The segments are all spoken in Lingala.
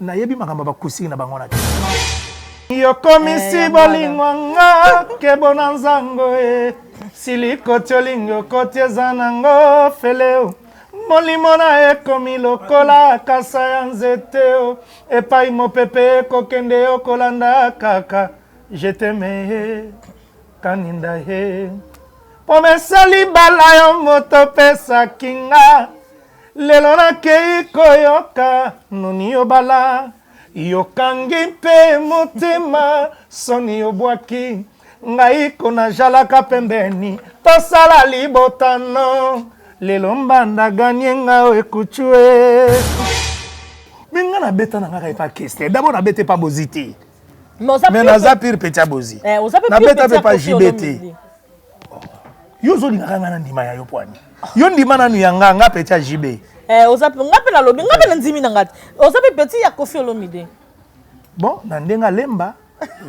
Nayebi makambo ya bakusii na bango na te. yokomisi eh, bolingo nga kebo na nzango e silikoti olingi okoti eza nango feleo molimo na ekomi lokola kasa ya nzete o epai mopepe ekokende yo kolanda kaka jeteme ye kaninda ye pomesali bala yo moto pesaki nga Lelo nakeyi koyoka nuni yobala yokangi mpe motema soni yobwaki ngai kona jalaka pembeni tosala libota no lelo mbanda ganye nga o ekuchue me nga nabeta na nga kaka epa kester dabord nabeta epa bozi te mais naza pire petit abozi eh, nabeta mpe pa jibe te yo ozolingaka ngai na ndima ya yo pwani yo ndima nanu ya nga nga petit ya jibe eh, oza mpe nga mpe nalobi nga mpe na ndimi na ngai oza mpe petit ya kofi olomide bon na ndenge alemba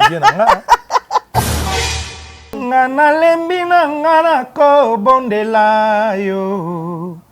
vie na nga nga nalembi na nga nakobondela yo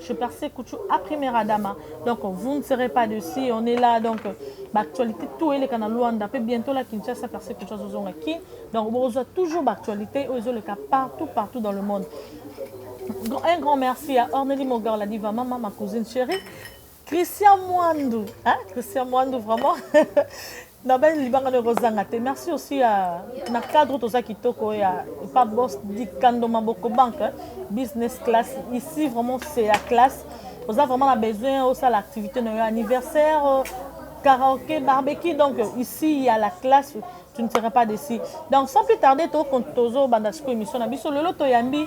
Je perce kuchu a première adama donc vous ne serez pas de si on est là donc ba actualité tout eleka na Luanda pe bientôt la Kinshasa perce kuchu azozonga ki donc bokozwa toujours ba actualité oyo ezoleka partout partout dans le monde un grand merci à Orneli Mogar la diva mama ma cousine chérie Christian Mwandu, hein? Christian Mwandu vraiment na bali libanga nde ekozanga te merci aussi ya na cadre toza kitoko ya pa bos dikando maboko banque business class ici vraiment c'est ya classe oza vraiment na besoin osala activité na yo anniversaire euh, karaoke barbecue donc ici ya la classe tu ne seras pas déçu donc sans plus tarder tozobanda sikoyo émission na biso lelo toyambi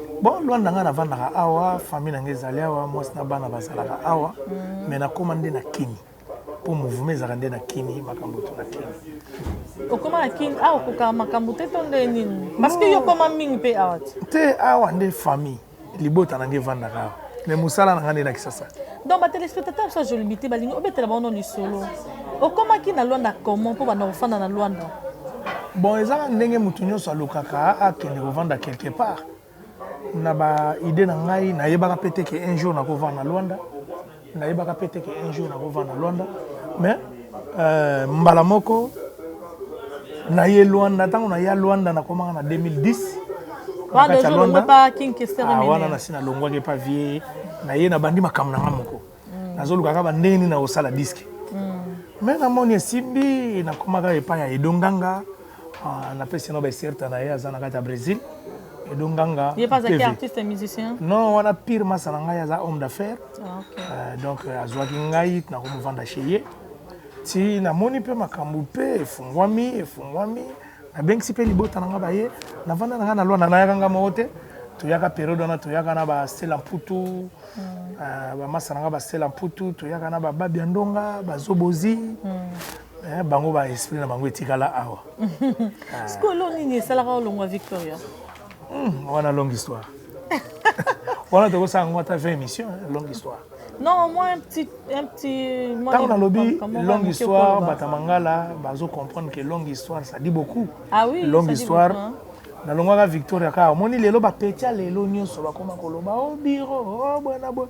Bon, Luanda nga navandaka awa, famille na nga ezali awa, mwasi na bana bazalaka awa, mm. mais nakoma nde na Kini. Po mouvement ezalaka nde na Kini, makambo to na Kini. Okoma na Kini, awa okoka makambo te to nde nini? Parce que yo okoma mingi pe awa te. Te, awa nde famille, libota na nga evandaka awa. mais mosala na ngai nde na kisasa donc batelespectateur biso ajolibi te balingi obetela bango no lisolo okomaki na lwanda comment mpo banda kofanda na lwanda bon ezaka ndenge moto nyonso alukaka akende kovanda quelque part na baide na ngai nayebaka mpe te ke un jour nakovanda na lwanda nayebaka mpe te ke un jour nakovanda na lwanda mais Euh, mbala moko naye Luanda, ntango naya Luanda nakomaka na 2010 ah, wana nasi nalongwaki epa vie naye nabandi makambo na nga moko mm. nazolukaka bandenge nini nakosala diske me mm. namoni esimbi nakomaka epai ya edonganga Ah, na pesi na ba certa na ye aza na kati ya Brésil. Edo Nganga. Ye pas qui artiste et musicien? Non, wana pire masa na ngai aza homme d'affaires. Ah, okay. Euh, donc euh, azwaki ngai na komuvanda chez ye. Ti namoni mpe makambo mpe efungwami efungwami nabengisi mpe libota na ngai baye navanda na ngai na lwana nayaka ngai moko te toyaka periode wana toyaka na basela mputu mm. euh, bamasa na ngai basela mputu toyaka na bababi ya ndonga bazobozi mm. Eh, bango ba esprit na bango etikala awa sikoyo lo nini esalaka olongwa victoria hmm, wana longue histoire wana tokosala yango ata 20 émission longue histoire non moi un petit un petit ntango nalobi longue histoire bata mangala bazo comprendre que longue histoire ça dit beaucoup ah oui, longue histoire nalongwaka victoria kaka omoni lelo bapeti ya lelo nyonso bakoma koloba o oh, biro o oh, bwana bo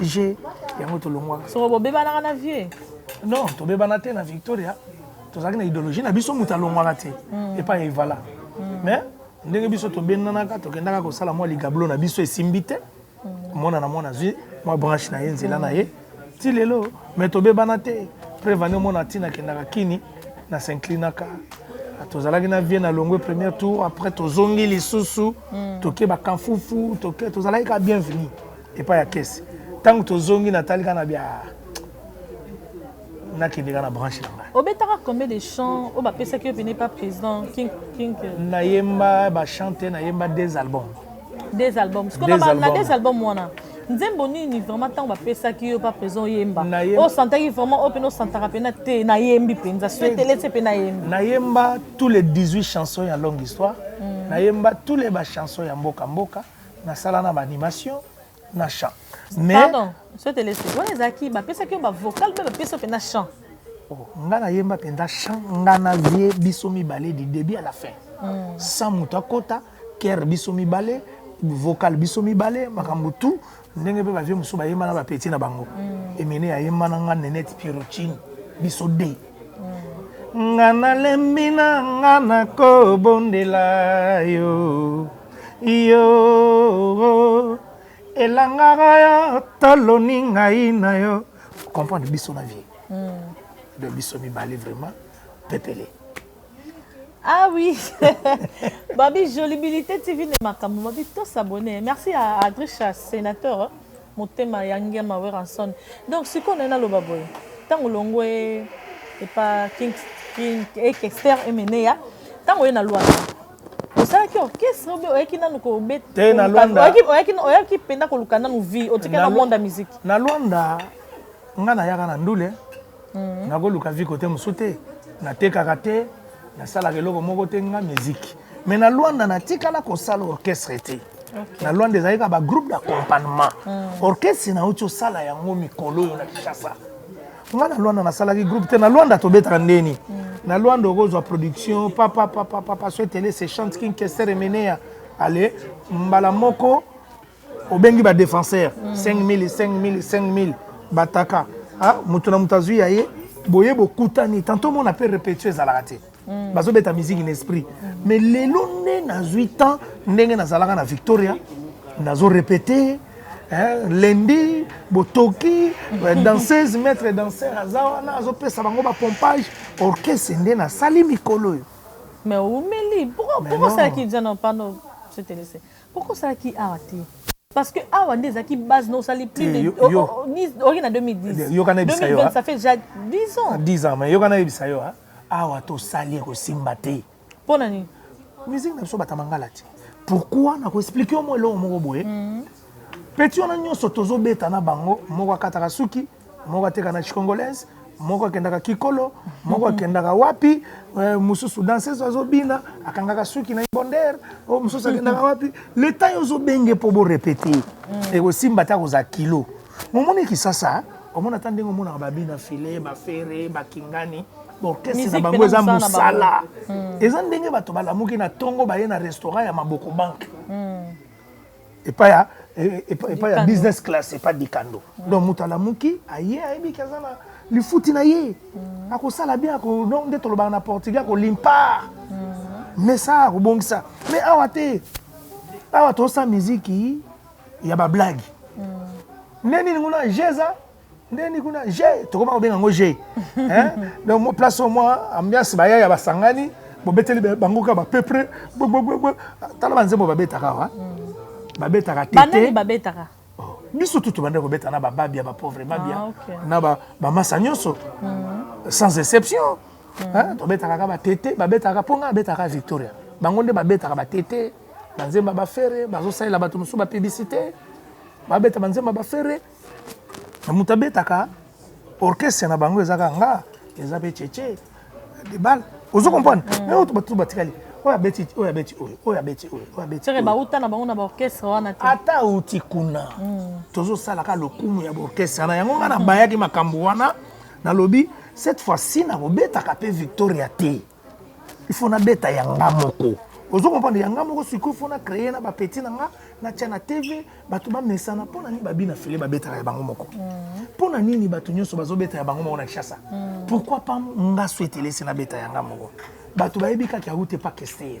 je yango tolongwaka soko bobebanaka na vie non tobebana te na victoria tozalaki na idéologie na biso moto alongwaka te hmm. epai ya evala hmm. mais ndenge biso tobendanaka tokendaka kosala mwa ligablo na biso esimbi te hmm. mwana na mwana azwi mwa branche na ye nzela na ye ti lelo mais tobebana te prevane omona ntina akendaka kini na s'inclinaka tozalaki na vie na longwe premier tour après tozongi lisusu mm. toke bakamfufu toke tozalaki ka bienvenu epai ya kese ntango tozongi natali kaka na bya nakende kaka na branche na ngai obetaka combien de chant oyo bapesaki yo pene pa président king king euh? nayemba bachante nayemba des albums des albums sikoyo na des albums wana nzembo nini vraiment ntango bapesaki yo pa président oyemba osantaki vraiment oyo mpena osantaka mpena te nayembi mpenza suetelese mpe nayembi nayemba tous les 18 chansons ya longue histoire mm. nayemba tous les bachanson ya mboka mboka na sala na ba animation na chant mais pardon ce te laisse wana ezalaki bapesaki yo bavocal mpe bapesi yo mpenza chant oh, nga nayemba mpenza chant nga nazie biso mibale du début à la fin mm. sans moto akota kere biso mibale vocal biso mibale makambo tout Ndenge pe ba vieux mususu ba yemba na ba petits na bango. Emeneya ayemba na nga Nenette Pierrotine biso deux. Nga nalembi na nga nakobondela yo yo elangaka yo toloni ngai na yo comprendre biso na vie de biso mibale vraiment pepele Ah oui, Babi Jolibilité TV ne makambo Babi to s'abonner. Merci à Adricha sénateur hein, motema ya Ngiama Weranson. Donc siko na loba boye. Tango longwe et pas King King et Kester et Meneya. Tango na loi. osalaki orchestre obe oyaki nanu kobeta na lwanda oyaki mpenza koluka nanu vie otikaki na monde ya musique na lwanda ngai nayaka na ndule Mhm. nakoluka vie kote mosusu te natekaka te nasalaka eloko moko te nga miziki mais na lwanda natikala kosala orchestre te na lwanda ezalaki kaka bagroupe d'accompagnement mhm. orchestre nauti osala yango mikolo oyo na kinshasa nga na lwanda nasalaki groupe te na lwanda tobetaka ndeni mhm. na lwanda okozwa production papa papa papa soetele se chante kinkester emeneya ale mbala moko obengi ba défenseur 5000 5000 5000 bataka ah, moto na moto azwi ya ye boye bokutani tanto mona mpe repetio ezalaka te mm. bazobeta miziki na esprit mm. mais lelo nde nazwi temps ndenge nazalaka na victoria nazo repete eh, lendi botoki eh, danseuse maître danseur aza wana azopesa bango bapompage orchestre nde nasali mikolo oyo mais oumeli pourquoi osalaki nzana pano se te laisser Pourquoi osalaki awa te? Parce que awa nde ezalaki base na osali plus de oki na 2010. Yoka na bisa yo. Ça fait déjà 10 ans. 10 ans mais yoka na bisa yo awa to sali ko simba te. Pona nini? Musique na biso batamangala te. Pourquoi na ko expliquer au moins eloko moko boye? Mm -hmm. peti wana nyonso tozobeta na bango moko akataka suki moko ateka na chicongolaise moko akendaka kikolo moko akendaka wapi eh, mosusu danseuse azobina akangaka suki na ibonder o oh, mosusu akendaka wapi leta yo ozobenge mpo borepete mm. ekosimba te akozala kilo momoni kisasa omona ata ndenge omonaka babina file bafere bakingani orchestre na bango eza mosala mm. eza ndenge bato balamuki na ntongo baye na restaurant ya maboko banke mm. epai ya epai ya business class epai dikando donc moto alamuki aye ayebi ke aza na lifuti na ye mm. akosala bien donc nde tolobaka na portugais akolimpa mm. mais ça akobongisa mais awa te awa tosa miziki ya bablage mm. nde nini kuna jeza ndeni kuna je tokoma kobenga yango je donc place au moins ambiance bayaya basangani bobeteli bango kaka bapepre tala banzembo babetaka awa mm. babetaka tete babetaka oh, biso tu tobandaki kobeta na bababia bapauvre babia ah, na bamasa nyonso mm. sans exception mm. tobetaka kaka batete babetaka mpo ngai abetaka victoria bango nde babetaka batete banzemba bafere bazosalela bato mosusu bapiblisite babeta banzemba bafere moto abetaka orchestre na bango eza kaka nga eza mpe cheche debal ozo comprendre mm. mais oyo bato batikali oyo abeti oyo abeti oyo oyo abeti oyo oyo abeti oyo bauta na bango na baorchestre wana te ata auti kuna mm. tozosalaka lokumu ya baorchestre wana yango nga nabayaki makambo wana nalobi cette fois-ci nakobetaka mpe victoria te il faut na beta ya nga moko ozo comprendre ya nga moko sikoyo faut na créer na ba petit na nga na tia na TV bato ba mesana mpo na nini babi na fele ba betaka ya bango moko mpo na nini bato nyonso bazo beta ya bango moko na Kinshasa pourquoi pas nga souhaite laisser na beta ya nga moko bato bayebi kaka ya route pas kester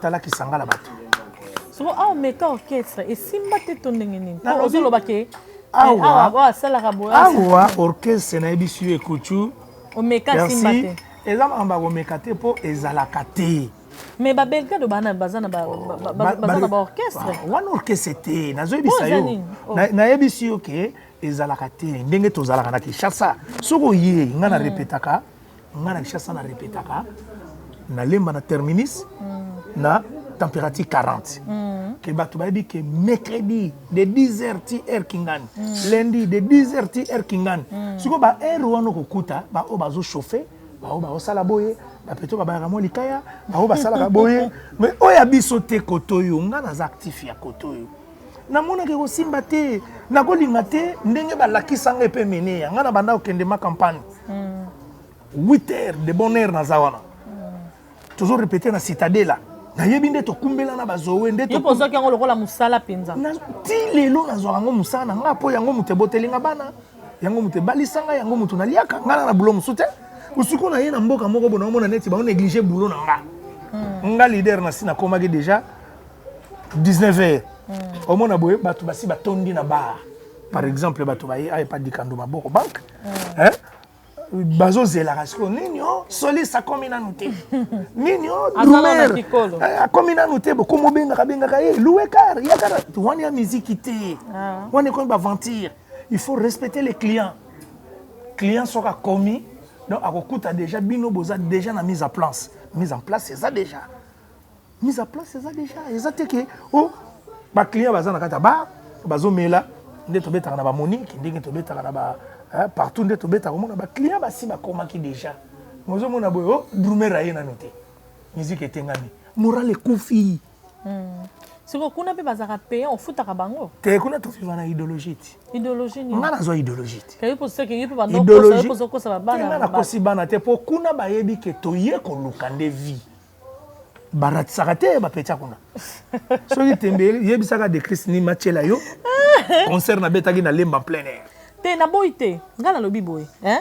tala kisanga na bato soko awa ah, meka orchestre esimba te to ndenge nini ozoloba ke eh, awa asalaka boawa orchestre nayebisi yo ekutu omeka simba te eza makambo ya komeka te mpo ezalaka te mais babelgade bana baza na baorchestre ah, wana orchestre te nazoyebisa yo oh. nayebisi yo ke ezalaka te ndenge tozalaka na kinshasa soki oye ngai na hmm. repetaka Nga na Kinshasa na repetaka na lemba na terminus mm. na température 40 mm. ke bato bayebi ke mercredi de 10 heures ti heure kingani mm. lundi de 10 heures ti heure kingani mm. sikoyo ba heure wana okokuta baoyo bazo chauffe baoyo baosala boye bapeto babayaka mwa likaya baoyo basalaka boye mais oyo ya biso te kotoyo nga naza actif ya kotoyo namonaka ekosimba te nakolinga te ndenge balakisa ngai mpe mene ya ngai na banda kokende ma campagne 8 hmm. heures de bonne heure naza wana hmm. tozo repete na citadela nayebi nde tokumbela na bazowe ndetozwaki yango lokola mosala mpenza ti lelo nazwaka yango mosala na ngai mpo yango moto eboteli nga bana yango moto ebalisa ngai yango moto naliaka ngai na bulo mosusu te osiko na ye na mboka moko bona omona neti bango néglige bulo na nga hmm. nga leader na si nakomaki déjà 19 heures hmm. omona boye bato basi batondi na bar par exemple bato baye aye pa dikando maboko banque hmm. bazozelaka sikoyo nini o oh, solis akomi nanu te nini o oh, drumer eh, akomi nanu te bokomi obengaka bengaka ye louekar yakara wani ya miziki te ah. wani ekomi baventure il faut respecter les clients client soki akomi donc akokuta déjà bino boza déjà na mise en place mise en place eza déjà mise à place eza deja eza te ke o oh, baclient baza na kati ya bar bazomela nde tobetaka na bamonique ndenge tobetaka na ba eh, partout nde tobetaka omona baclient basi bakomaki deja mozomona boye o oh, drumer aye nano te miziki etengami moral ekufi hmm. siko kuna mpe bazalaka payant ofutaka bango te kuna toviva na idéologie ti idéologie nini nga nazwa idéologie ti keyi mposa ke ye mpe bandokosa bakosa babana nakosi bana te mpo kuna bayebi ke toye koluka nde vie baratisaka te bapetia kuna soki tembe yebisaka de christ nini matiela yo concert nabetaki na lemba plein air te naboyi te ngai nalobi boye eh.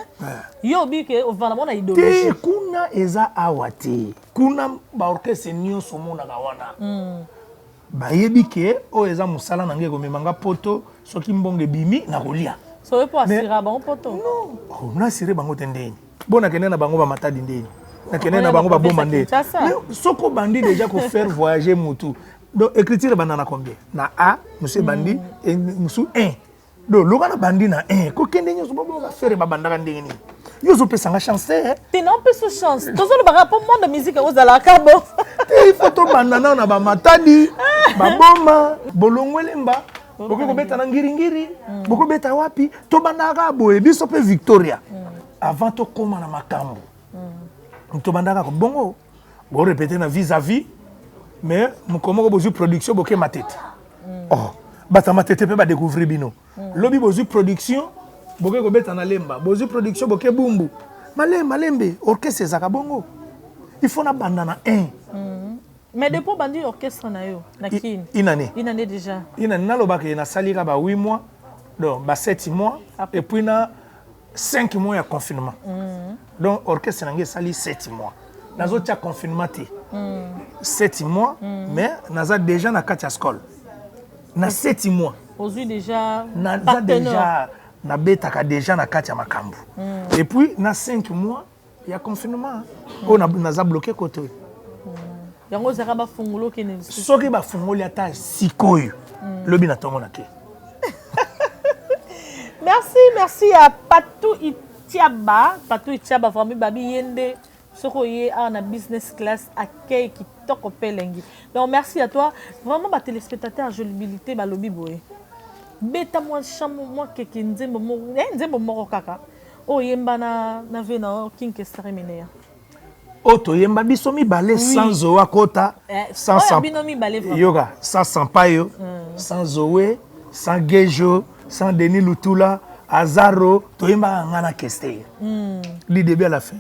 yo obi ke ovanda mona idologie te kuna eza awa te kuna baorchestre nyonso omonaka wana mm. Bayebi ke oyo eza musala na ngai ekomema nga poto soki mbongo ebimi na kolia. Soki po asira bango poto. Non, oh, na asire bango te ndeni. Bona kende na bango ba matadi ndeni. Na kende na bango ba boma ndeni. Mais soko bandi déjà ko faire voyager mutu. Donc écriture banda na combien? Na A, monsieur bandi, et musu 1. do loba na bandi na eh ko kende nyoso ba ba faire ba bandaka ndenge nini yo zo pesa nga chance eh te na pesa chance to zo loba ka po monde musique o zala ka bo te il faut to banda na na ba matadi ba boma bolongwele mba bokoki kobeta na ngiringiri mm. bokobeta wapi to banda ka boye biso pe victoria mm. avant to koma na makambo mm. to banda ka bongo Bo répéter na vis à vis mais mokolo moko bozwi production boke matete mm. oh bata matete mpe badécouvrir bino mm. lobi bozwi production boke kobeta na lemba bozwi production boke bumbu male malembe orchestre ezaka bongo il faut nabanda na 1 mm. mais depuis obandi orchestre na yo na kin inane inane déjà inane nalobaka ye nasalika ba 8 mois donc ba 7 mois Après. et puis na 5 mois ya confinement mm. donc orchestre na ngai esali 7 mois nazotya confinement te 7 mm. mois mm. mais naza déjà na kati ya skole na 7 mois ozwi déjà naza déjà nabetaka déjà na kati ya makambo mm. et puis na 5 mois ya confinement oyo na- naza bloke kote oyo yango ozaka bafungula okende lisusu soki bafungoli ata sikoyo lobi na ntongo na ke merci merci ya patou itiaba patou itiaba vrami babi ye nde soki oye awa na business class accueil kitoko mpe elengi donc merci à toi vraiment batelespectateur jolibilité balobi boye beta mwa chamo mwa keke nzembo moko eh, nzembo moko kaka Oyo yemba na na vie na yo king kester emeneya. Oyo toyemba biso mibale oui. sans zoe akota eh, sans oh, sans bino mibale vraiment. Yoka sans sampayo mm. sans zoe sans gejo sans denis lutula azaro toyembaka nga na kester mm. du début à la fin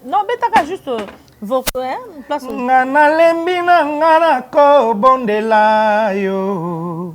non betaka juste euh, nga nalembi na nga nakobondela yo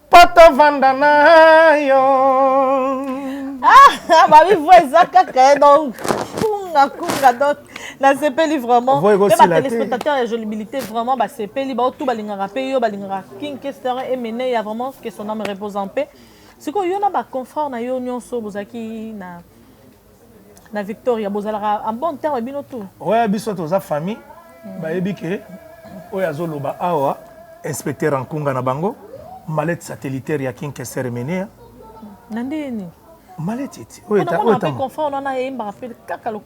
Po to vanda na yo. Ah, ba mi voix eza kaka donc kunga kunga donc nasepeli vraiment mpe batelespectateur ya jolibilité vraiment basepeli bao tu balingaka mpe yo balingaka king kester emene ya vraiment que son ame repose en paix sikoyo yo na baconfrère na yo nyonso bozalaki na na victoria bozalaka en bon terme bino tout oya biso toza famille mm. bayebi ke oyo azoloba awa inspecteur ankunga na bango malete satellitaire ya kinkesere menea na ndeni malete ete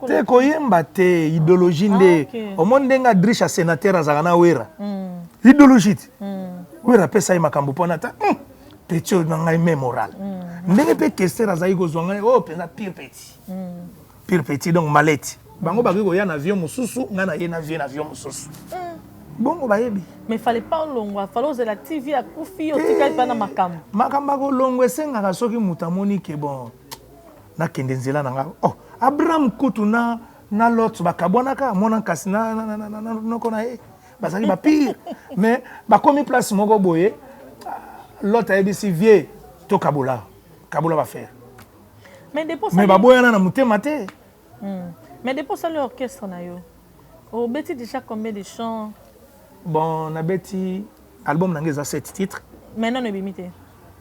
te koyemba te idéologie nde ah, omoni ndenge adriche ya sénateur azalaka na wera mm. idéologie te mm. wera apesa ye makambo mpona ata hmm. petit oyo na ngai me moral mm. ndenge mpe kester azalaki kozwa ngai oyo oh, mpenza pire petit mm. pire petit donc maleti bango bakoki koya na avion mosusu ngai naye na vie na avion mosusu mm. bongo bayebi mais fale pa olongwa fale ozela tv akufi yo otikali mpa na makambo eh, makambo ya kolongwa esengaka soki moto amoni ke bon nakende nzela na ngai oh abraham kutu na na lot bakabwanaka amona kasi noko na ye bazali ba pire mais bakomi place moko boye lot ayebisi vie to kabola kabola bafere mais baboyana na motema te hmm. mais depuis osali orchestre na yo obeti déjà combien de chants bon nabeti album na ngai eza 7 titre mais nano ebimi te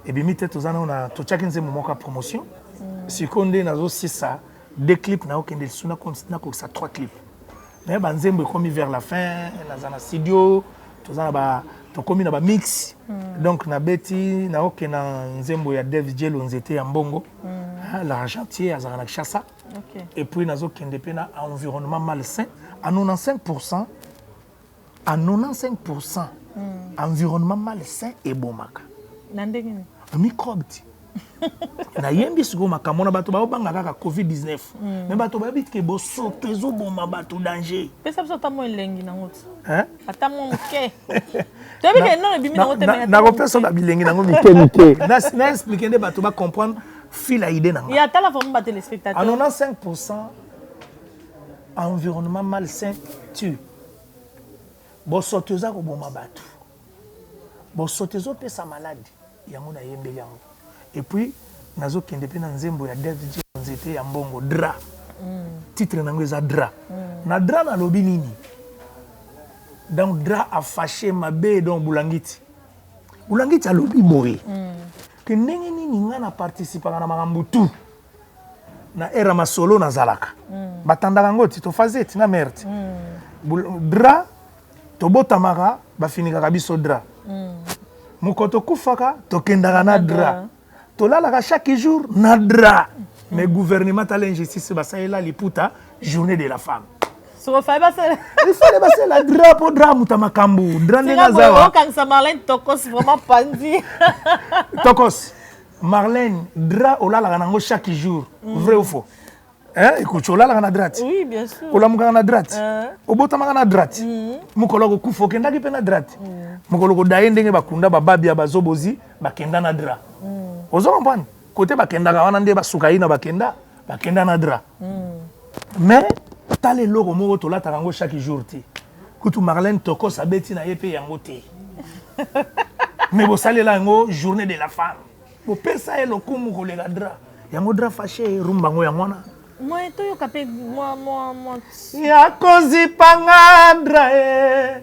ebimi te toza nao na totyaki nzembo moko ya promotion hmm. sikoyo nde nazosisa de clip na okende lisu nakokisa 3 clip mais ba nzembo ekomi vers la fin naza na studio toza na ba tokomi na ba mix mm. donc na beti na oke na nzembo ya Dev Jelo nzete ya mbongo mm. Ah, l'argentier azalaka na Kinshasa okay. et puis nazokende mpe na environnement malsain à 95% à 95 pour cent mm. environnement malsain ebomaka na ndenge nini microbe ti nayembi sikoyo makambo na bato baobanga kaka covid-19 mm. me bato bayebi ke bosoto ezoboma bato danger pesa biso ata mwa elengi nango ti ata mwa moke toyebi ke nono ebimi nango te nakopesa na bilengi nango mike mike na explike nde bato bacomprendre fila idée nango ya tala vraimen batelespectateur 95 environnement malsain tue Bosoto eza koboma batu. Bosoto ezo pesa malade yango na yembeli yango. Et puis nazo kende pe na nzembo ya Dev G nzete ya mbongo drap. Titre nango eza drap. Na drap na lobi nini? Donc drap a fache mabe donc bulangiti. Bulangiti alobi boye que ndenge nini nga na participaka na makambo tout. na era masolo nazalaka mm. batandaka yango ti tofaze ti na mare ti mm. dra tobotamaka bafinikaka biso dra mm. moko tokufaka tokendaka na dra tolalaka chaque jour na dra mm. mais gouvernement tala injustice basalela liputa journée de la femme ifale basala dra mpo dra amuta makambo dra ndenge azawa tokos Marlène, drap olalaka nango chaque jour, mm. vrai ou faux? Hein, écoute, olalaka na drap? Oui, bien sûr. Olamukaka na drap? Euh. Obotamaka na drap? Mm. Mukolo ko kufa okendaki pe na drap? Mm. Mukolo ko daye ndenge bakunda ba babia ba zobozi bakenda na drap. Mm. Ozo comprendre? Kote bakendaka wana nde basuka ina bakenda, bakenda na drap. Mm. Mais tala eloko moko tolataka yango chaque jour te. Kutu Marlène Tokos abeti na ye pe yango te. Mais bosalela yango journée de la femme. Bopesa ye lokumu koleka Dra. Yango Dra fache rumba yango yango wana. Moye toyoka pe mwa mwa mwa. Ya kozipa nga Dra eh.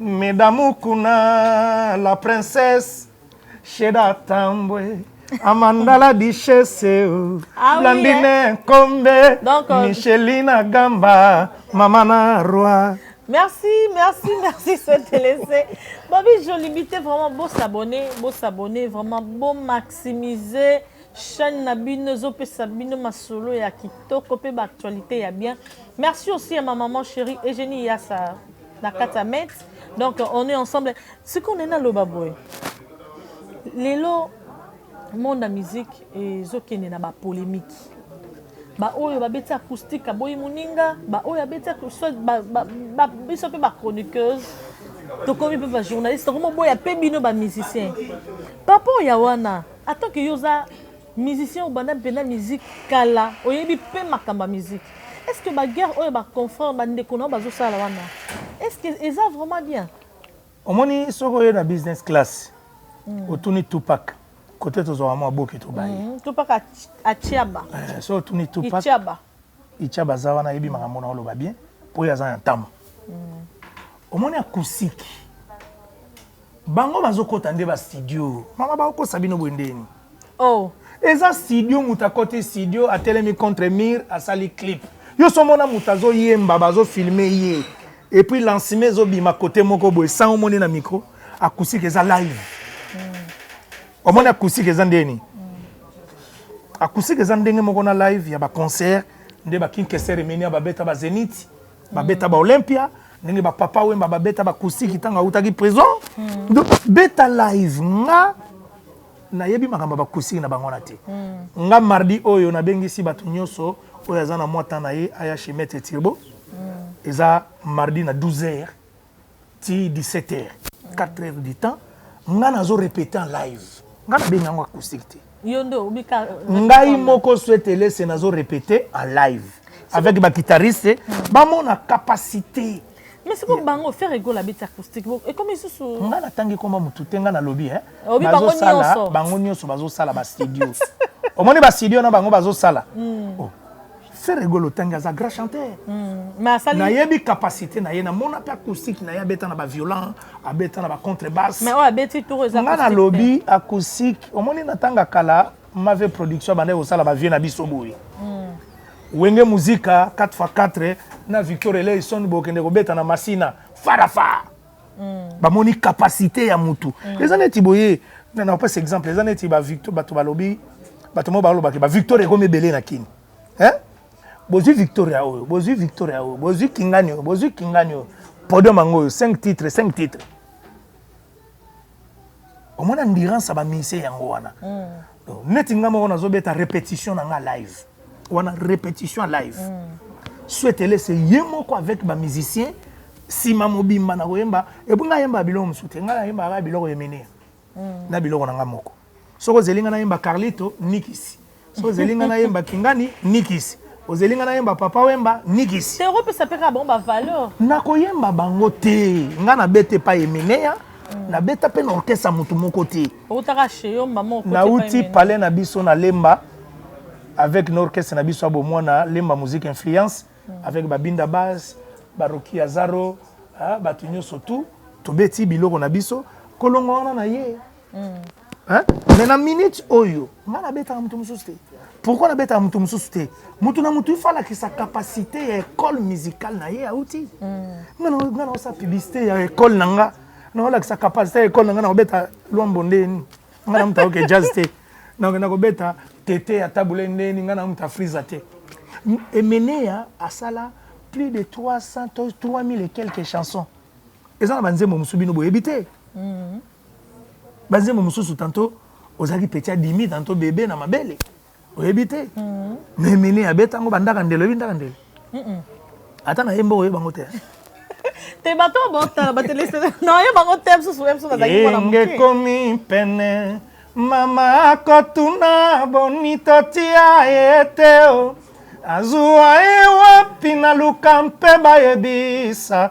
Meda Mukuna, la princesse, Sheda Tambwe, Amanda la duchesse, oh. Ah oui, Blandine hein? Kombe, Donc, euh, Michelina Gamba, Mamana Roi. Merci, merci, merci, c'est laissé. Bobby, je limite vraiment beau s'abonner, beau s'abonner, vraiment beau maximiser. chaîne na bino ezopesa bino masolo ya kitoko mpe baactualité ya bien merci aussi ya ma maman chérie eugénie yasa na kati ya met donc on est ensemble sikoyo nde naloba boye lelo monde ya musique ezokende na bapolémique baoyo babeti acoustique aboyi moninga baoyo abeti biso mpe bachroniqueuse tokomi mpe bajournaliste tokomi oboya mpe bino bamusicien par rapport ya wana atanke yo oza Musicien obanda pena musique kala oyebi pe makambo ya musique est ce que ba guerre oyo ba confrère ba ndeko nao bazo sala wana est ce que eza vraiment bien omoni soki oye na business class mm. otuni tupac kote tozwaka mwa boke tobaye mm. tupac atiaba eh, so otuni tupac itiaba itiaba aza wana ayebi makambo na oloba bien mpo ye aza na ntambo mm. omoni akusiki Bango bazo kota nde ba studio. Maman ba kosa bino boye ndeni. Oh. Eza studio mutu akoti studio atelemi contre mur asali clip. Yo so mona mutu azo yemba bazo filmer ye. Et puis lancement ezo bima côté moko boye sans omoni na micro acoustique eza live. Mm. Omoni acoustique eza ndeni. Mm. Acoustique eza ndenge moko na live ya ba concert nde ba King Kester Emenia babeta ba Zenith. babeta ba olympia ndenge bapapa wemba babeta bakusiki ntango autaki prison hmm. donc beta live nga nayebi makambo ya bakusiki na bango wana te hmm. nga mardi oyo nabengisi bato nyonso oyo aza na mwa temps na ye aya chez maître tirbo hmm. eza mardi na 12 heures ti 17 heures 4 heures du temps nga nazo repete en live nga nabengi yango acoustique te ngai moko suetelese nazo repete en live avec baguitariste hmm. bamona capacité mais siko bango faire egol abeti acoustique ekomi lisusu nga natangi koma motu te nga nalobi eh. bazosala bango nyonso bazosala bastudio omoni bastudio na bango bazosala hmm. oh. Ferre Gola otangi aza grand chanteur. Mm, nayebi capacité na ye namona mpe acoustique na ye abeta na baviolent abeta na bacontrebasse nga nalobi acoustique omoni na ntanga kala mave production abandaki kosala bavie na biso boye mm. wenge muzika 4x4 na victor eleison bokende kobeta na masina farafa mm. bamoni capacité ya mutu mm. eza neti boye na opesa exemple eza neti bato balobi bato moko balobaki bavictoire ekomi ebele na kini eh? bozwi victoria oyo bozwi victoria oyo bozwi kingani oyo bozwi kingani oyo podium yango oyo 5 titre 5 titre omoni endurance ya bamise yango wana mm. neti nga moko nazobeta répétition na nga live wana répétition live mm. swetele se ye moko avec bamusicien nsima mobimba na koyemba epo nga yemba biloko mosusu te nga nayembaka biloko ya mene mm. na biloko na nga moko Soki ozeli nga nayemba Carlito, nikisi. Soki ozeli nga nayemba Kingani, nikisi. Ozeli nga nayemba Papa Wemba, nikisi. Te opesa pe kaka bango ba valeur. Nakoyemba bango te. Nga nabeta epai Emeneya, hmm. nabeta pe na orchestre mutu moko te. Outaka chez yo maman okoti epai Emeneya. Nauti palais na biso na Lemba avec na orchestre na biso ya bomwana Lemba Musique Influence hmm. avec Babinda Bass, Baroki Azaro, ah, bato nyonso tout tobeti biloko na biso kolonga wana na ye mais na minute oyo nga nabetaka moto mosusu te pourquoi nabetaka moto mosusu te moto na moto ifa alakisa capacité ya école musicale na ye auti nga naosa publicité ya école na nga naolakisa capacité ya école na nga nakobeta lwambo ndeni nga na moto aoke jazz te nakenda kobeta tete ya tabule ndeni nga na moto afriza te emeneya asala plus de 300 to 3000 et quelques chansons eza na banzembo mosusu bino boyebi te mm. ba nzembo mosusu tanto ozalaki petit adimi tanto bebe na mabele oyebi te mhm. mais mini abetango bandaka ndelo oyebi ndaka ndelo ata na ye mboka oyebi bango te te bato botala batelese na oyebi bango te mosusu ye mosusu bazalaki mwana moke ekomi pene mama akotuna boni totia ye te o azua ye wapi naluka mpe bayebisa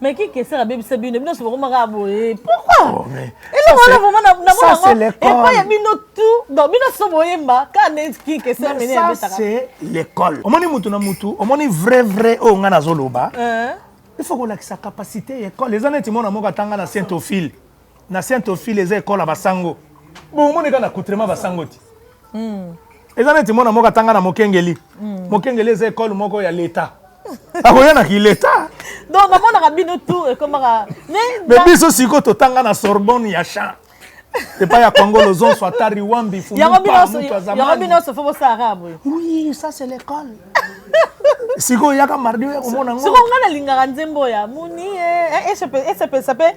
Mais qui que ça la baby sabine bino se bakoma ka boye. Pourquoi? Elo wana vraiment na na bona. Et pas ya bino tout. Donc bino so boyemba ka ne qui que ça mene ya betaka. C'est l'école. Omoni mutu na mutu, omoni vrai vrai o nga nazo loba. Euh. Il faut ko lakisa capacité ya école. Les années timona moko atanga na Saint-Ophile. na saint ophile eza ekole ya basango bomoni kaka na coutrement basango ti hmm. eza neti mwana moko atanga na mokengeli hmm. mokengeli eza ekole moko ya leta akoya na kileta donc namonaka bino tour ekomaka mais biso sikoyo totanga na sorbonne ya champ epai ya congo lozonso ata riwambi yango bino nyonso fo bosala boye oui ça c'est l'école sikoyo yaka mardi oya komona ngo sikoyo ngai nalingaka nzembo ya moni esepelisa eh, eh, eh, mpe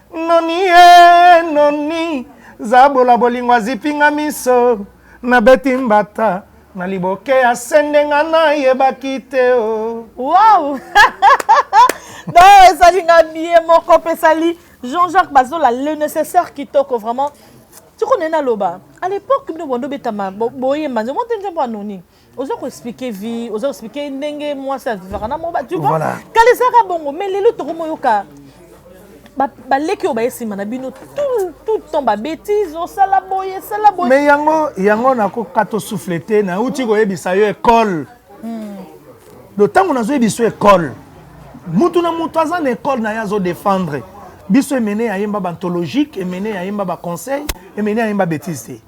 Noni ee noni Zabola bolingo azipi nga miso Na beti mbata na liboke ya sende Nga na yebaki te oh Wow Donc ezali nga bien moko pe sali Jean-Jacques Bazola le nécessaire kitoko vraiment Tiko nena loba à l'époque bino bondo betama boyemba nzembo te nzembo ya noni oza ko expliquer vie oza ko expliquer ndenge mwasi avivaka na moba tu vois kala ezalaka bongo mais lelo tokomi oyoka baleki oyo baye nsima na bino tout temps babétise osala boye sala boye mais yango yango nakoka tosouffle te nauti koyebisa yo ekole hmm. do ntango nazoyebisa yo ekole mutu na mutu aza na ekole na ye azodefendre biso emene ya yemba bantologique emene ya yemba baconseil emene ya yemba bétise te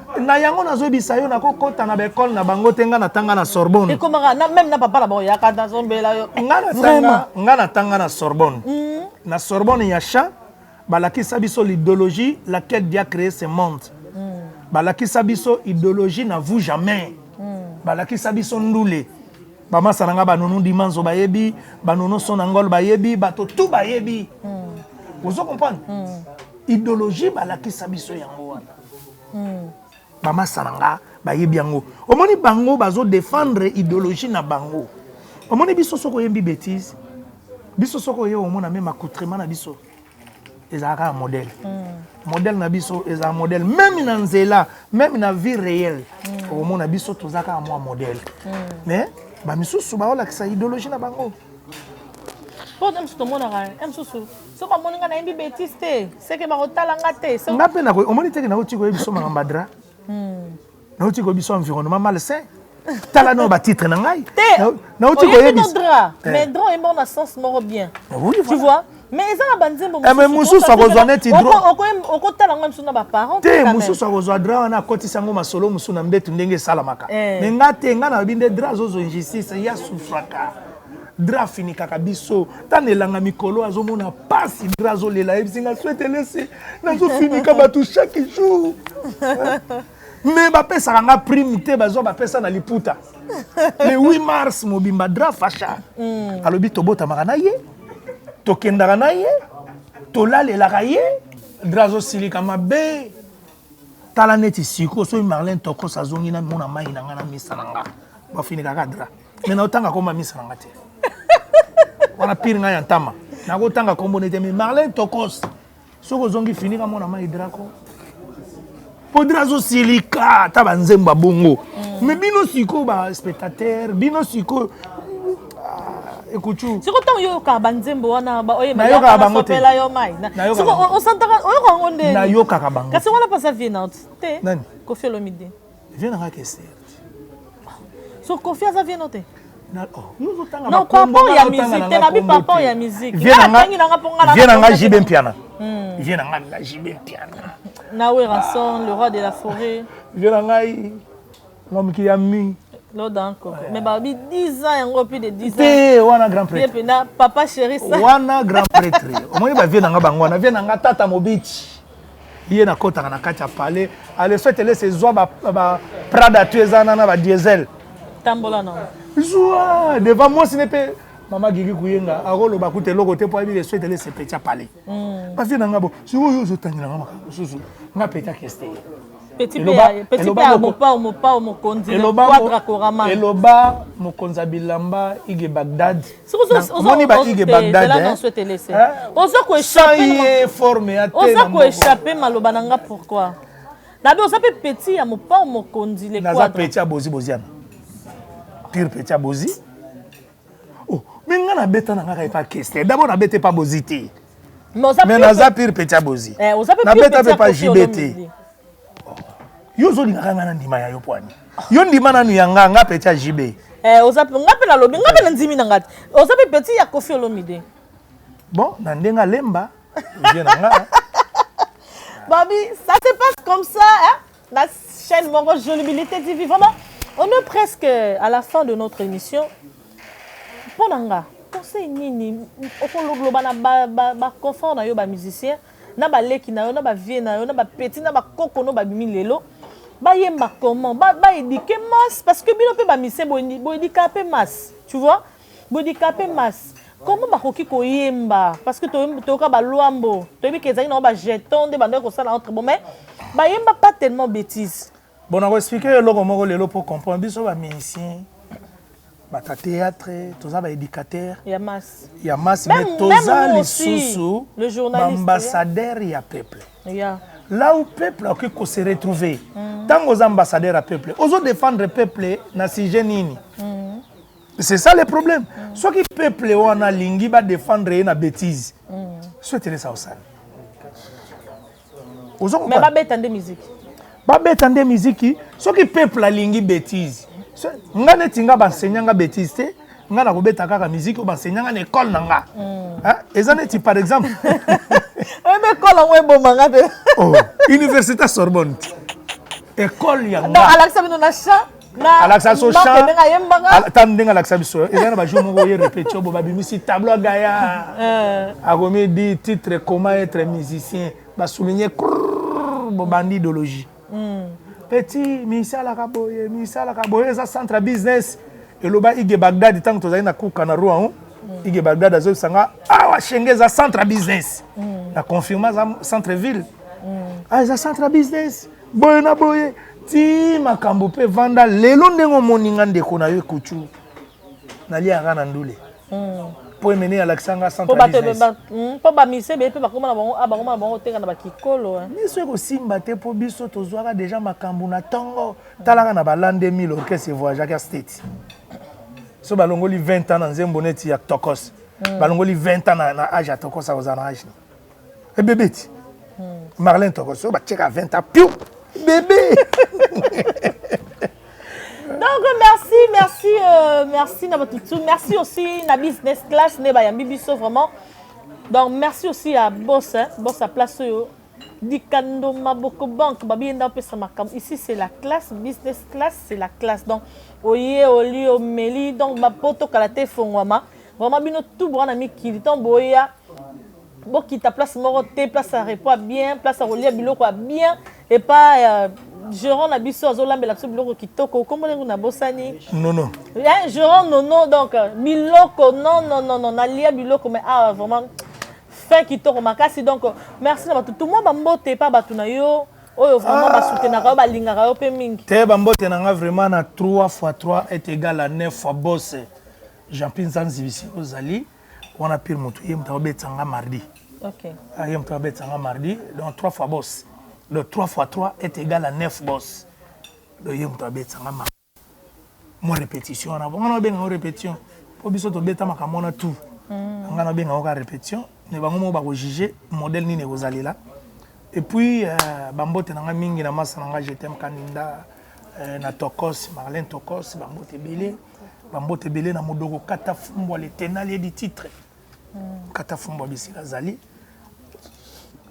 na yango nazoyebisa yo nakokɔta na baekole na bango te ngai natanga na sorbonne ekomaka na meme na papa na bango yaka nazombela yo ngai natanga na sorbonne hmm. na sorbonne ya champ balakisa biso l'idéologie laquelle dia créé ce monde hmm. balakisa biso idéologie na vous jamais hmm. balakisa biso ndule bamasa na ngai banono dimanzo bayebi banono sonangol bayebi bato tu bayebi ozo comprendre idéologie balakisa biso yango wana bamasa na nga bayebi yango omoni bango bazo defendre ideologie na bango omoni biso soki oyembi betise biso soki oye omona meme accoutrement na biso ezala kaka modèle mm. modèle na biso ezala modèle meme na nzela meme na vie réelle mm. okomona biso toza kaka mwa modèle mm. mais bamisusu baolakisa ideologie na bango mpo na mosusu tomonaka ya mosusu soki omoni nga nayembi betise te seke bakotala nga te nga mpe nakoki omoni teke nauti koyebi so makambo adra hmm. nauti koyebi so environnement malsain tala nao batitre na ngai te nauti koyebi eh. mais dra oyembi na sens moko bien tu vois mais eza na banzembo eh, mosusu akozwa neti okotala yango mosusu na baparent te mosusu akozwa dra wana akotisa yango masolo mosusu na mbetu ndenge esalamaka eh. me nga te nga nayebi nde dra azozo injustice ya sufraka Dra afinikaka biso ntango elanga mikolo azomona pasi Dra azolela yebisi nga swete lesi nazofinika bato chaque jour me bapesaka nga prime te bazwa bapesa na liputa le 8 mars mobimba Dra fasha mm. alobi tobotamaka na ye tokendaka na ye tolalelaka ye Dra azosilika mabe tala neti siko soki marlin tokos azongi na mona mai na nga na misa na nga bafinikaka Dra me naotanga kombo ya misa na nga te wana pire ngai ya ntama nakotanga kombo nete me marlene tokos soki ozongi fini kamona mai draco podre azosilika ata banzembo ya bongo mm. me bino sikoyo baspectateur bino sikoyo ah, ekucu siko ntango oyokaka banzembo wana oyebnayokaka bango te yo mai osantaka oyokaka yango nde nayokaka bango kasi wana mpasa vie nao te nani kofi olomide Vieux nanga Kester. So Kofi aza vieux note. Oh. Non, papa ya musique, te na bi papa ya musique. Vieux nanga, vieux nanga JB Mpiana. Hmm. Vieux nanga la JB Mpiana. Na Werrason, le roi de la forêt. Vieux nanga, l'homme qui a mis. loda nkoko mais babi 10 ans yango plus de 10 te wana grand prêtre mpenza papa chéri sa wana grand prêtre omoni bavie na nga bango wana vie na nga tata mobici ye na kotaka na kati ya palais à le fait elese ezwa ba, ba prada tu eza nana ba diesel tambola na zwa devant mwasi ne pe mama gigi kuyenga akoloba kuta eloko te mpo ayebi le fait elese petya palais mm. basi na nga bo sikoyo ozotangelanga makambo mosusu nga petya keste eloba mokonzi ya bilamba ige bagdad omoni ba ige bagdadye forme ya oza koechappe maloba na nga pourquoi nabe oza mpe petit ya mopao mokonzi naza petit ya bozi boziana pure petit ya bozi Oh, mais nga na beta na nga kaka epa kester. D'abord na beta epa bozi te. Mais oza Mais naza pire petit ya bozi. Eh, oza pe Na pire beta petit pe ya pa Koffi JB te. Olomide. Yo zo linga kanga na ndima ya yo poani. Yo ndima nanu ya nga, nga petit ya JB. Eh, oza pe nga pe na lobi, nga pe na ndimi na nga. te. Oza pe petit ya Koffi Olomide. Bon, na ndenga lemba. Vieux na nga. Babi, ça se passe comme ça, hein? La chaîne Mongo Jolibilité TV. Vraiment, on est presque à la fin de notre émission. Pour Nanga, conseil nini okoloba na ba ba, ba confort na yo ba musicien na ba leki na yo na ba vieux na yo na ba petit na ba koko no ba bimi lelo ba yemba comment ba ba éduquer masse parce que bino pe ba mise bo bo éduquer pe masse tu vois Bodikape mas comment bakoki koyemba parce que toyoka baluambo toyebi ke ezalaki nango bajeton nde bandaki kosala entre bo mais bayemba pas tellement bétise bon nakoexplike yo eloko moko lelo mpo comprendre biso bamusicien bato ya théâtre toza baéducateur ya masse ya masse mais toza lisusu baambassadeur ya peuple yeah. là où peuple akoki ko se retrouver ntango mm. oza ambassadeur ya peuple ozo défendre peuple na sujet nini mm. c'est ça le problème mm. soki peuple wana alingi badefendre ye na bétise mm. so etelesa osali mais babeta nde miziki babeta nde miziki soki peuple alingi bétise nga neti nga bansenya nga bétise te nga nakobeta kaka miziki oyo bansenya nga na ekole na nga mm. eza neti par exemple oyeba ekole yango eboma nga te oh, université sorbonne ekole yango alakisa bino na champ alakisa so chantata ndenge alakisa biso eza na bajour moko ye repetio bo babimisi tableau ya gaya eh. akomi di titre comment être musicien basouligne bobandi idéologie hmm. petit misalaka boye misalaka boye eza centre business eloba ige bagdad ntango tozali na kuka na rouen hmm. ige bagdad azobisa nga awa ah, shenge eza centre business hmm. na confirme aza centre ville ah, eza centre business boye na boye ti makambo mpe vanda lelo ndenge omoni nga ndeko na yo ekutu naliaka na ndule hmm. mpo emene alakisa nga mpo hmm, bamise beye mpe bakoma na bango ah, bakoma na bango oteka na bakikolo eh. biso ekosimba te mpo biso tozwaka deja makambo na ntongo talaka na balande 1000 orchestre evoyageaka state so balongoli 20 ans na nzembo neti ya tokos hmm. balongoli 20 ans na age ya tokos akozala na age nini Bébé ti. Marlène toko so ba tcheka 20 ans. Piu. Bébé. Donc merci, merci, euh, merci na batutu. Merci aussi na business class ne ba yambi biso vraiment. Donc merci aussi à boss, hein, boss à place yo. Dikando Maboko Bank, babi enda pesa makam. Ici c'est la classe, business class, c'est la classe. Donc oye oli omeli donc ba poto kalate fongwama. Vraiment bino tout bwana mikili tant boya bokita place moko te place ya repo ya bien place ya kolia biloko ya bien epa euh, gerant na biso azolambela biso biloko kitoko nkombo ndenge nabosani nono eh, gerant nono donc euh, biloko non non non non nalia biloko mais awa ah, vraiment fin kitoko makasi donc euh, merci na bato tumwa bambote epa bato na yo oyo vraiment ah. basutenaka yo balingaka yo mpe mingi te bambote na nga vraiment na 3 fois 3 est égal à 9 fois bose Jean Pierre Nzanzi bisi ozali wana Pierre moto ye moto abetisa nga mardi. OK. Ah, ye moto abetisa nga mardi donc trois fois boss. Le 3 fois 3 est égal à 9 boss. Donc ye moto abetisa nga mardi. Mo répétition wana bongo na benga répétition. Po biso tobeta makambo wana tout. Mm. Nga na benga oka répétition mais bango moko bako juger modèle nini ekozalela. Et puis euh, bambote na nga mingi na masa na nga je t'aime Kaninda euh, na Tokos, Marlène Tokos, bambote ebele. bambote ebele na modoko kata fumbwa le tenalier du titre hmm. kata fumbwa bisika azali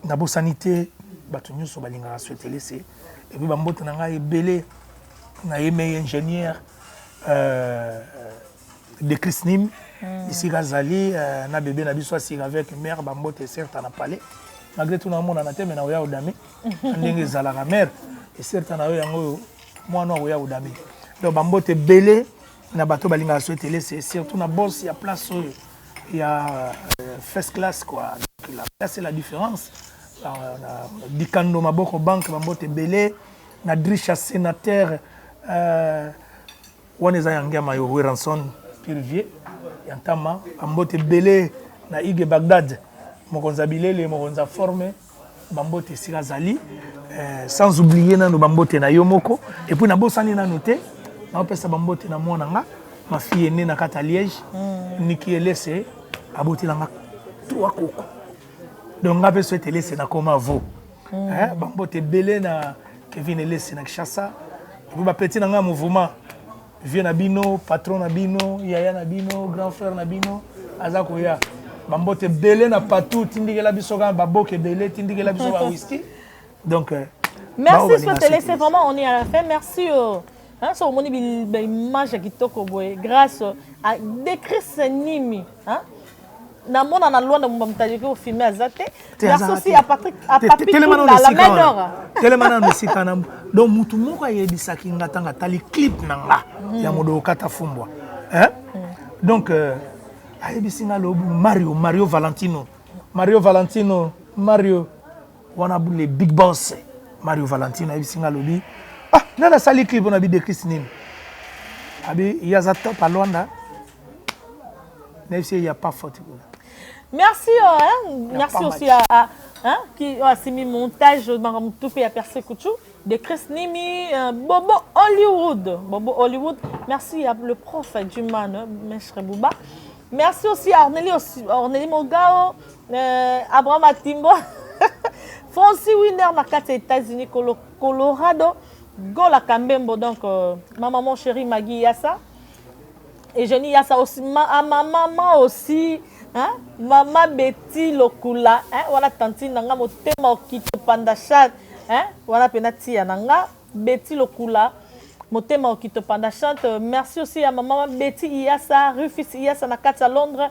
nabosani te bato nyonso balingaka suetelese epuis bambote na ngai ebele nayemei ingénieur euh, de chrisnim hmm. esika azali euh, na bebe na biso asika avec mare bambote eserta na palais malgré tout naomonana te me naoya odami ndenge ezalaka mare eserta na yo yango oyo mwana oyo akoya kodame donc bambote ebele na bato balingaka soetelese surtout na bos ya place oyo ya euh, first class quoi la place la différence dikando maboko banque bambote ebele na drisha sénateur euh, wana eza ya ngiama yo weranson pirivier ya ntama bambote ebele na ige bagdad mokonzi ya bilele mokonzi ya forme Ba mbote esika azali eh, sans oublier nanu ba mbote na yo moko et puis nabosani nanu te naopesa ba mbote na mwana nga ma fille est née na kata Liège mm. Niki Elese abotela nga trois koko donc nga pe souhaite Elese na koma vo mm. eh, ba mbote ebele na Kevin Elese na Kinshasa et puis ba petit na nga mouvement vieux na bino patron na bino yaya na bino grand frère na bino aza koya bambote ebele na patou tindikela biso kaka baboke ebele tindikela biso ba whisky donc euh, merci sotele c'est vraiment on est à la fin merci euh. Hein, so omoni baimage ya kitoko boye grâce à decris nimi hein? na mona na Luanda mumba mutajiki au filme aza te la sosi ya Patrick à Papi Kinda la main d'or telema na musika na donc mutu moko ayebisaki nga tanga tali clip na nga mm. ya modo kata fumbwa hein mm. donc euh, ayebisi nga lobu Mario Mario Valentino Mario Valentino Mario wana le big boss Mario Valentino ayebisi nga lobi ah nana sali clip na bi de Christ nini abi yaza top à Luanda na yebisi ye ya pas faute kuna merci oh, hein? merci aussi à, à hein? qui oh, asimi montage banga mutu mpe ya perse kuchu de chris nimi euh, bobo hollywood bobo hollywood merci ya le prof du man mestre bouba merci aussi à orneli orneli mogao euh, abraham atimbo francis winner na kati ya états-unis colorado gola kambembo donc euh, ma maman chérie magi yasa Eugenie Yasa aussi, ma, ah, ma maman aussi, hein? Maman Betty Lokula, hein? Wana tantine na nga motema okito panda chat, hein? Wana pena tia na nga Betty Lokula, motema okito panda chat. Merci aussi à maman Betty Iyasa, Rufus Iyasa na kati ya Londres.